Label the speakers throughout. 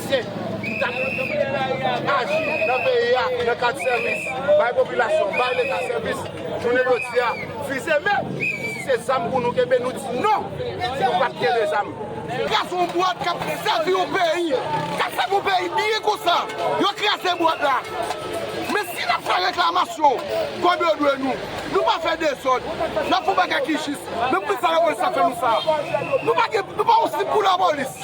Speaker 1: Ayisyen ki ta dwe kontinye aji nan peyi a nan kad sèvis bay popilasyon, bay leta sèvis, jounen jodi a fize men si se zam pou nou kenbe nou di non nou pap kenbe zam. Gason bwat kap sèvi yon peyi, kap sèvi yon peyi byen konsa yo kraze bwat la men si nap fè reklamasyon kòb yo dwe nou, nou pa fè dezòd nap fè yon bagay ki jis men poukisa lapolis ap fè nou sa nou pa gen nou pa yon sip pou lapolis.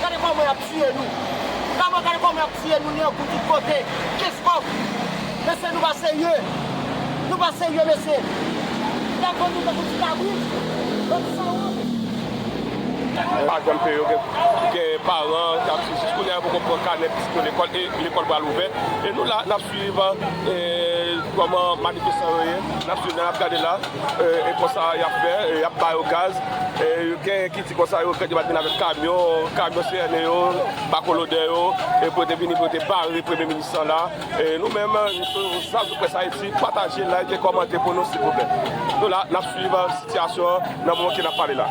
Speaker 2: Gade koman yap tiye nou. Kama gade koman yap tiye nou nen pou tout kote. Keskòf. Mesye nou pa serye. Nou pa serye mesye. Yap vann nou tankou
Speaker 3: ti kabrit. Bann sanwont. Pa janm peye yo gen paran kap di jis kounya yo poko pran kanè pitit yo lekòl e lekòl pral ouvè e nou la nap swiv kòman manifestan yo ye nap swiv nap gade la e konsa yap fè yap bayo gaz e genyen ki Se konsa yo fèt yo pat vin avèk kamyon, kamyon CRN yo, bako lodè yo, e pou yo te vini pou yo te bare premye minis lan la. Nou menm zanmi près Ayiti pataje, like, kòmante pou nou silvouplè. Nou la nap swiv sitiyasyon an nan moman ke nap pale la.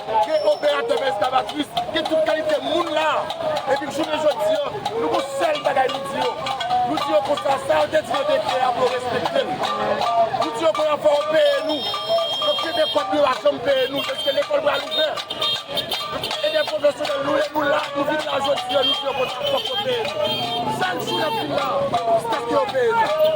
Speaker 2: Ke operatè men eskavatrice, ke tout kalite moun la a. Epi jounen jodi an, nou gon sèl bagay nou di yo. Nou di yo konsa, sa yo te di nan dekrè a pou yo respekte l. Nou di yo konn an fò yo peye nou. Yo kenbe kòb yo a janm peye nou deske lekòl pral ouvè. Edè pwofesyonèl nou e nou la, nou vin la jodi an nou di yo konsa fòk yo peye nou. Chak jou n ap vin la a jiskaske yo peye nou.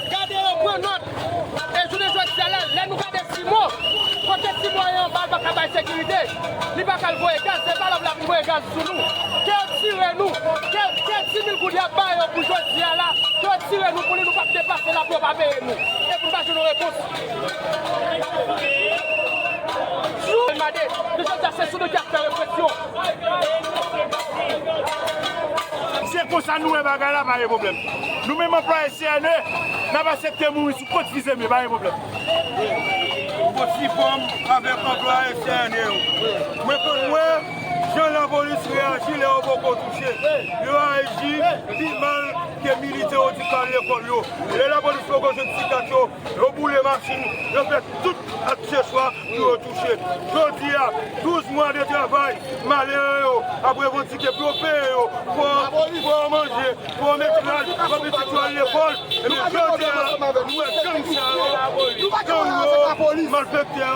Speaker 2: Gade yo, pran nòt! E jounen jodi a la, lè nou gade Simo, kote Simo ye anba l pa ka bay sekirite, li pa ka al voye gaz, se valab l ap voye gaz sou nou. Ke yo tire nou, ke ke ti mil goud y ap ba yo pou jodi a la, ke yo tire nou pou li nou pa p depase l apre yo pa peye nou. E pou nou pa jwenn yon repons. Jou. Mande, jounen jodi a se sou nou ki ap fè represyon.
Speaker 4: Se konsa nou wè bagay la pa gen pwoblèm. Nou menm anplwaye CNE n ap asepte mouri sou kont fizeme pa gen pwoblèm. M
Speaker 5: kontifòm avèk anplwaye CNE yo. Mwen konn wè jan lapolis reyaji lè yo poko touche. Yo aji pi mal ke militè yo di k al lekòl yo. Lè lapolis poko jwenn ti kat yo. Yo boule machin, yo fè tout akseswa pou yo touche. Jodi a, 12 mwa de travay, malere yo ap revandike pou yo peye yo po, pou yo manje, pou yo met rad, pou pitit yo al lekòl. Ebyen jodi a, nou wè gang sa yo, gang yo, malfèktè yo.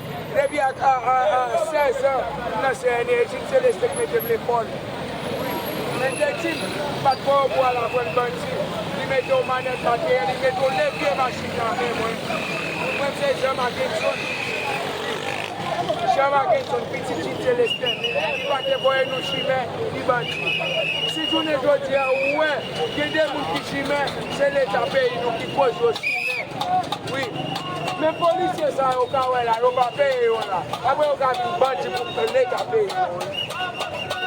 Speaker 2: Depi ak 16 an m nan CNE etid seleste k mete m lekòl wi men Deti pat kwè w pou al aprann bandi li mete w manèt latriye li mete w levye machin nan men mwen pou mwen m se Jean Mackenson wi Jean Mackenson pitit Jean Celestin li pa te voye nou chimè ni bandi si jounen jodi a ou wè gen de moun ki chimè se leta peyi nou ki koz yo chimè wi. Men polisye sa yo ka wè la yo pa peye yo la apre yo ka vin bandi pou leta peye yo wi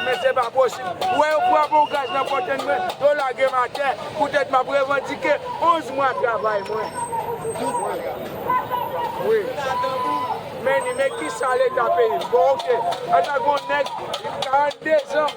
Speaker 2: men se pa posib ou wè yo pran bon gaz nan fontenn mwen yo lage m atè poutèt m ap revandike 11 mwa travay mwen wi men ni men kisa leta peye m bon ok ata gon nèg 42 zan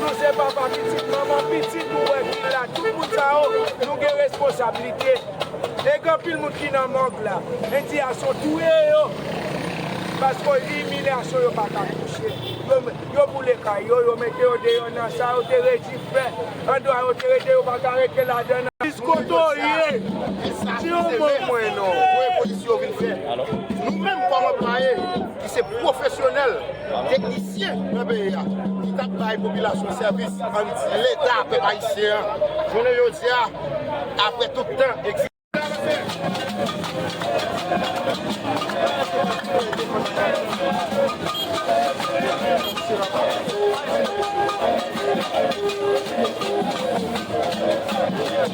Speaker 2: Nou se papa, pitit, manman, pitit ou wè ki la, tout moun sa yo nou gen responsablite e gen anpil moun ki nan mòg la, endiyasyon touye yo paske imilyasyon yo pa ka kouche, yo boule kay yo, yo mete yo deyò nan sa yo te redi fè, andwa yo te rete yo pa ka rete ladan nan. Plis kote w ye, di yon mo pou mwen non.
Speaker 1: Voye polisye yo vin fè. Nou menm kòm anplwaye. ki se pwofesyonèl teknisyen nan peyi a, ki t ap bay popilasyon an sèvis, an n di Leta pèp ayisyen an, jounen jodi a, apre tout tan egzistans.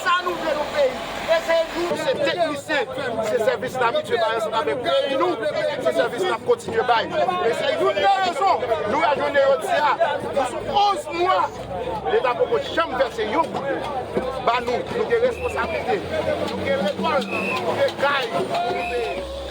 Speaker 1: Sa nou vle nou peyi e se nou ki se teknisyen se sèvis n abitye bay ansanm avèk peyi nou se sèvis n ap kontinye bay e se youn nan rezon nou wè jounen jodi a nou sou 11 mwa leta poko janm vèse yon goud ba nou nou gen responsablite nou gen lekòl nou gen kay pou nou peye.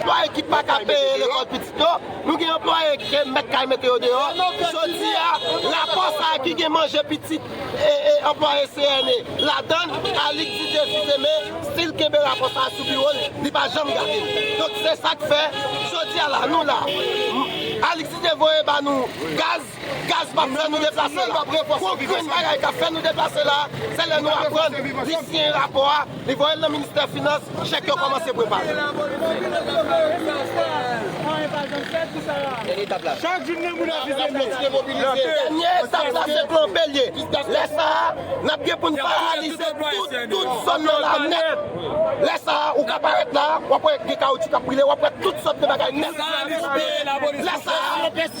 Speaker 2: Anplwaye
Speaker 6: ki pa ka peye lekòl pitit yo, Nou gen anplwaye ke mèt kay mete yo deyò. Jodi a, rapò sa a ki gen manje pitit e anplwaye CNE ladan l, Alix Didier Fils-Aimé stil kenbe rapò sa a sou biwo l, li pa janm gade l. Donk se sa k fè, jodi a la, nou la, Alix Didier voye ba nou gaz, Gaz pap fè nou deplase la. Konbyn bagay kap fè nou deplase la, se lè nou aprann li siyen rapò a, li voyel nan ministè finans, chèk yo kòmanse prepare.
Speaker 4: Chak jou gen moun akize nou. Dènye
Speaker 6: etap la se plonpe l ye. Lè sa a, nap gen poun paralize tout zòn nan la nèt. Lè sa a, ou ka parèt la, wap wè gen kawotchou kap brile, wap wè tout sòt de bagay nèt. Lè sa a.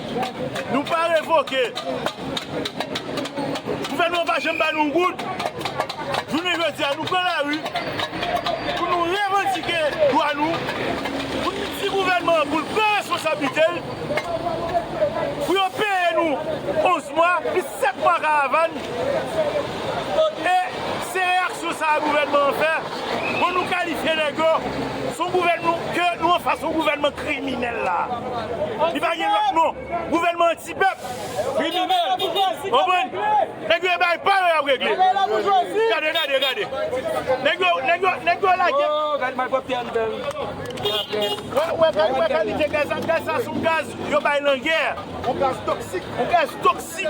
Speaker 4: Nou pa revoke. Gouvènman an pa janm ba nou yon goud. Jounen jodi a nou pran lari pou nou revandike dwa nou, pou nou di gouvènman an pou l pran responsablite l, pou yo peye nou 11 mwa plis. 7 mwa karavann e se reyaksyon sa a gouvènman an fè bon nou kalifye nèg yo son gouvènman ke nou anfas yon gouvènman kriminèl la a li pa gen lòt non gouvènman anti pèp kriminèl ou konprann nèg yo e bay pa yo y ap regle gade gade gade nèg yo nèg yo nèg yo lage wè wè kalite gaz sa gaz sa son gaz yo bay langè. On gaz toksik. On gaz toksik.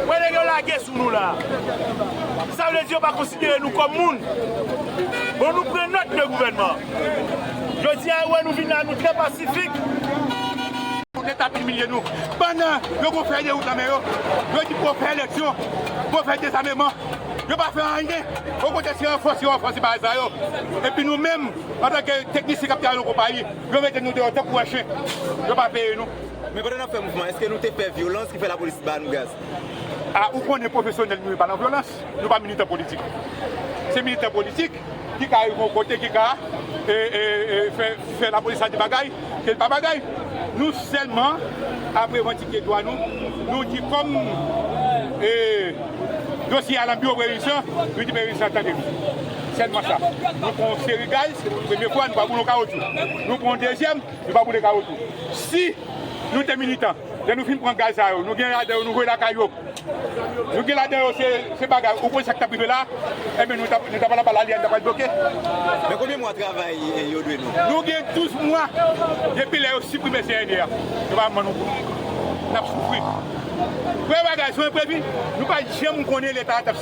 Speaker 4: Wè nèg yo lage sou nou la. Sa vle di yo pa konsidere nou kòm moun. Bon nou pran nòt de gouvènman. Jodi a yo wè nou vin la nou trè pasifik.
Speaker 5: Pou leta ap imilye nou. Pandan yo gon fèy de wout nan men yo. Yo di pou yo fè eleksyon. Pou yo fè dezameman. Yo pa fè anyen. Okontrè se ranfòse yo ranfòse bagay sa yo. Epi nou menm antanke teknisyen k ap travay nan konpayi. Yo mete nou deyò tankou wè chen. Yo pa peye nou. Men pandan n ap fè mouvman an,
Speaker 7: èske nou te pè vyolans ki fè lapolis ba nou gaz? A Ou konnen
Speaker 5: pwofesyonèl nou yo pa nan vyolans. Nou pa militan politik. Se militan politik ki ka rive yon kote ki ka fè lapolis la di bagay ke l pa bagay. Nou sèlman ap revandike dwa nou. Nou di kòm dosye a nan biwo previnsyon, nou di previnsyon an tande nou. Sèl match la, nou pran yon seri gaz, premye fwa nou pa boule yon kawotchou. Nou pran yon dezyèm, nou pa boule kawotchou. Si nou te militan, lè nou fin pran gaz sa yo, nou gen ladan yo nou voye lakay yo. Nou gen ladan yo se bagay, ou konn sa k t ap rive la a, enben nou t ap al anba lali a, nou t ap al bloke. Men konbyen
Speaker 7: mwa travay yo dwe nou? Nou gen 12
Speaker 5: mwa depi lè yo siprime CNE a. Yo pa janm ban nou goud. N ap soufri. Vrè bagay sou enprevi, nou pa janm konnen leta a t ap.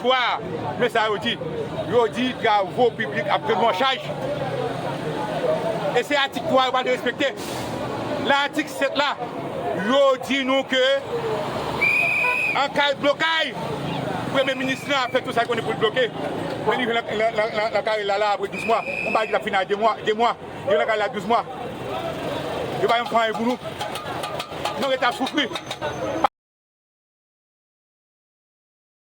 Speaker 5: 3, Men sa yo di, Yo di travo piblik ap jwenn mò chaj, e se atik 3 a yo pa vle respekte. Lan atik 7 la, yo di nou ke an ka de blokay, premye minis lan ap fè tou sa li konnen pou li bloke, men li jwenn lan kare l la, la apre 12 mwa, yon bagay ki t ap fini a 2 mwa, li jwenn lan kare l la 12 mwa. Yo pa janm fè anyen pou nou. Nou rete ap soufri.